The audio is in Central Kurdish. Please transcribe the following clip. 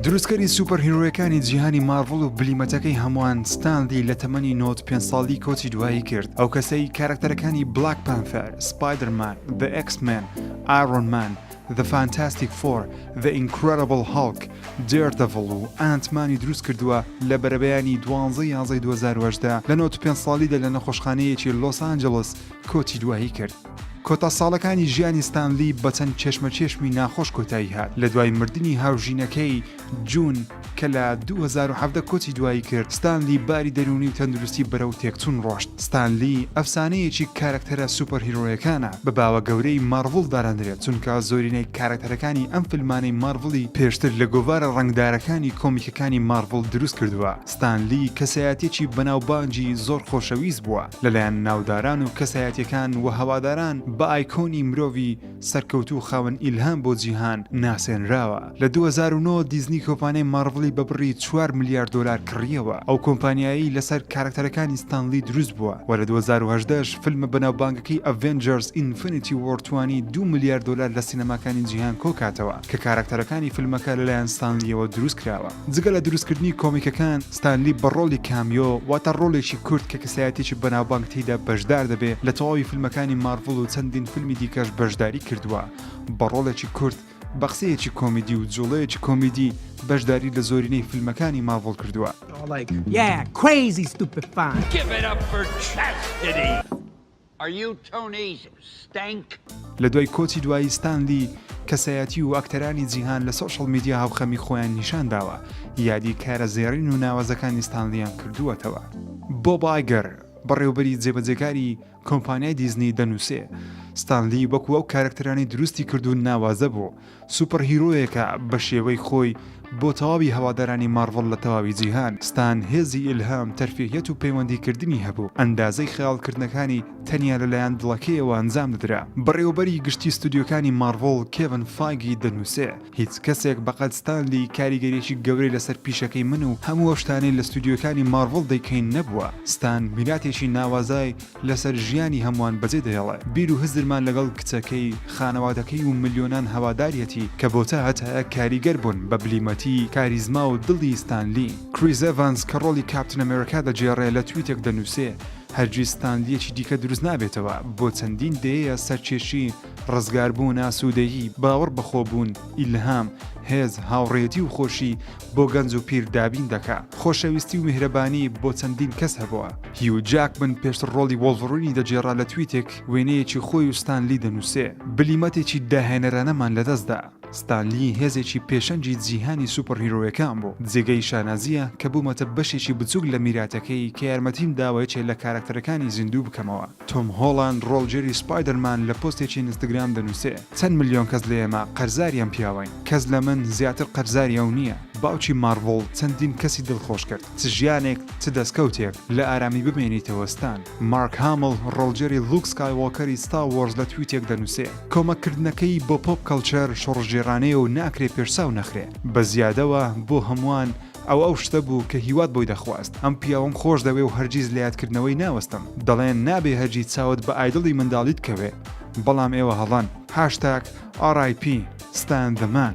دروستکەری سوپەرهیرۆیەکانی جیهانی مارڤڵ و بلیمەتەکەی هەمووان ستانلی لە تەمەنی نۆت پێ ساڵی کۆچی دوایی کرد ئەو کەسەی کارکتەرەکانی بلاک پانفەر سپایدرمان بە ئەکسمن ئارۆنمان The Fantastic Four The Incredible Hulk Daredevil و ئەنتمانی دروست کردووە لە بەرەبەیانی دوانزە یازەی 2010 لە 95 ساڵیدا لە نەخۆشخانەیەکی لۆس ئانجلس کۆچی دوایی کرد. کۆتا ساڵەکانی ژیانی ستانلی بە چەند کێشمەکێشمی ناخۆش کۆتایی هات لە دوای مردنی هاوژینەکەی جون کە لە 2017 کۆچی دوایی کرد ستانلی باری دەروونی و تەندروستی بەرەو تێکچوون ڕۆشت ستانلی ئەفسانەیەکی کارەکتەرە سوپەرهیرۆیەکانە بە باوە گەورەی مارڤڵ دادەنرێت چونکە زۆرینەی کارەکتەرەکانی ئەم فیلمانەی مارڤڵی پێشتر لە گۆڤارە ڕەنگدارەکانی کۆمیکەکانی مارڤڵ دروست کردووە ستانلی کەسایەتیەکی بەناوبانگی زۆر خۆشەویست بووە لەلایەن ناوداران و کەسایەتیەکان وهەواداران بە ئایکۆنی مرۆڤی سەرکەوتوو خاوەن ئیلهام بۆ جیهان ناسێنراوە لە دوو هەزار و نۆ دیزنی کۆمپانیای مارڤڵی بە بڕی چوار ملیار دۆلار کڕیەوە ئەو کۆمپانیایەی لەسەر کارەکتەرەکانی ستان لی دروست بووە وە لە دوو هەزار و هەژدە ش فیلمە بەناوبانگەکەی ئەڤێنجەرس ئینفنیتی وۆر توانی دوو ملیار دۆلار لە سینەماکانی جیهان کۆکاتەوە. کە کاراکتەرەکانی فیلمەکە لەلایەن ستانلییەوە دروست کراوە جگە لە دروستکردنی کۆمیکەکان ستانلی بە ڕۆڵی کامیۆ واتە ڕۆلێکی کورت کە کەسایەتێکی بەناوبانگ تێیدا بەشدار دەبێ لە تەواوی فیلمەکانی مارڤڵ و چەندین فیلمی دیکەش بەشداری کردووە بە ڕۆڵێکی کورت بە قسەیەکی کۆمیدی و جوڵەیەکی کۆمیدی بەشداری لە زۆرینەی فیلمەکانی ماڤڵ کردووە. Are you Tony's Stank؟ لە دوای کۆچی دوایی ستان لی، کەسایەتی و ئەکتەرانی جیهان لە سۆشیاڵ میدیا هاوخەمی خۆیان نیشان داوە، یادی کارە زێڕین و ناوازەکانی ستان لییان کردووەتەوە. بۆب ئایگەر، بەڕێوبەری جێبەجێکاری کۆمپانیای دیزنی دەنووسێ، ستان لی وەکو ئەو کارەکتەرانەی دروستی کرد و ناوازە بوو، سوپەر هیرۆیەکە بە شێوەی خۆی بۆ تەواوی هەوادارانی مارڤڵ لە تەواوی جیهان، ستان هێزی ئیلهام، تەرفیهیەت و پەیوەندی کردنی هەبوو، ئەندازەی خەیاڵ کردنەکانی تەنیا لە لایەن دڵەکەیەوە ئەنجام دەدرا. بەڕێوەبەری گشتی ستۆدیۆکانی مارڤڵ کێڤن فایگی دەنووسێ، هیچ کەسێک بەقەد ستان لی کاریگەریەکی گەورەی لەسەر پیشەکەی من و هەموو ئەو شتانەی لە ستۆدیۆکانی مارڤڵ دەیکەین نەبووە، ستان میراتێکی ناوازای لەسەر ژیانی هەمووان بەجێ دەهێڵێ. بیر و هزرمان لەگەڵ کچەکەی، خانەوادەکەی و ملیۆنان هەواداریەتی کە بۆ تا هەتایە کاریگەر بوون بە بلیمەتی، کاریزما و دڵی ستان لی. کریس ئێڤانس کە ڕۆڵی کاپتن ئەمێرکا دەگێڕێ لە تویتێک دەنووسێ، هەرگیز ستان لیەکی دیکە دروست نابێتەوە، بۆ چەندین دەیەیە سەرکێشی، ڕزگاربوون، ئاسوودەیی، باوەڕ بەخۆبوون، ئیلهام، هێز، هاوڕێیەتی و خۆشی، بۆ گەنج و پیر دابین دەکا خۆشەویستی و میهرەبانی بۆ چەندین کەس هەبووە هیو جاکمن پێشتر ڕۆڵی وۆڵڤڕینی دەگێڕا لە تویتێک وێنەیەکی خۆی و ستان لی دەنووسێ بلیمەتێکی داهێنەرانەمان لەدەست دا ستان لی هێزێکی پێشەنگی جیهانی سوپەرهیرۆیەکان بوو جێگەی شانازییە کە بوومەتە بەشێکی بچووک لە میراتەکەی کە یارمەتیم داوە یەکێ لە کارەکتەرەکانی زیندوو بکەمەوە. تۆم هۆڵاند ڕۆڵگێری سپایدەرمان لە پۆستێکی ئینستگرام دەنووسێ چەند ملیۆن کەس لە ئێمە قەرزاری ئەم پیاوەین، کەس لە من زیاتر قەرزاری ئەو نییە. باوکی مارڤڵ چەندین کەسی دڵخۆش کرد، چ ژیانێک چ دەستکەوتێک، لە ئارامی بمێنیتەوە ستان. مارک هامڵ ڕۆڵگێری لوک سکایوۆکەری ستار وۆرز لە تویتێک دەنووسێ کۆمەک کردنەکەی بۆ پۆپ کەڵچەر شۆڕشگێڕانەیە و ناکرێ پێشچاو نەخرێ. بە زیادەوە بۆ هەمووان ئەوە ئەو شتە بوو کە هیوات بۆی دەخواست. ئەم پیاوەم خۆش دەوێ و هەرگیز لە یادکردنەوەی ناوەستم. دەڵێن نابێ هەرگی چاوت بە ئایدڵی منداڵیت کەوێ. بەڵام ئێوە هەڵەن. هاشتاگ RIP Stan the Man.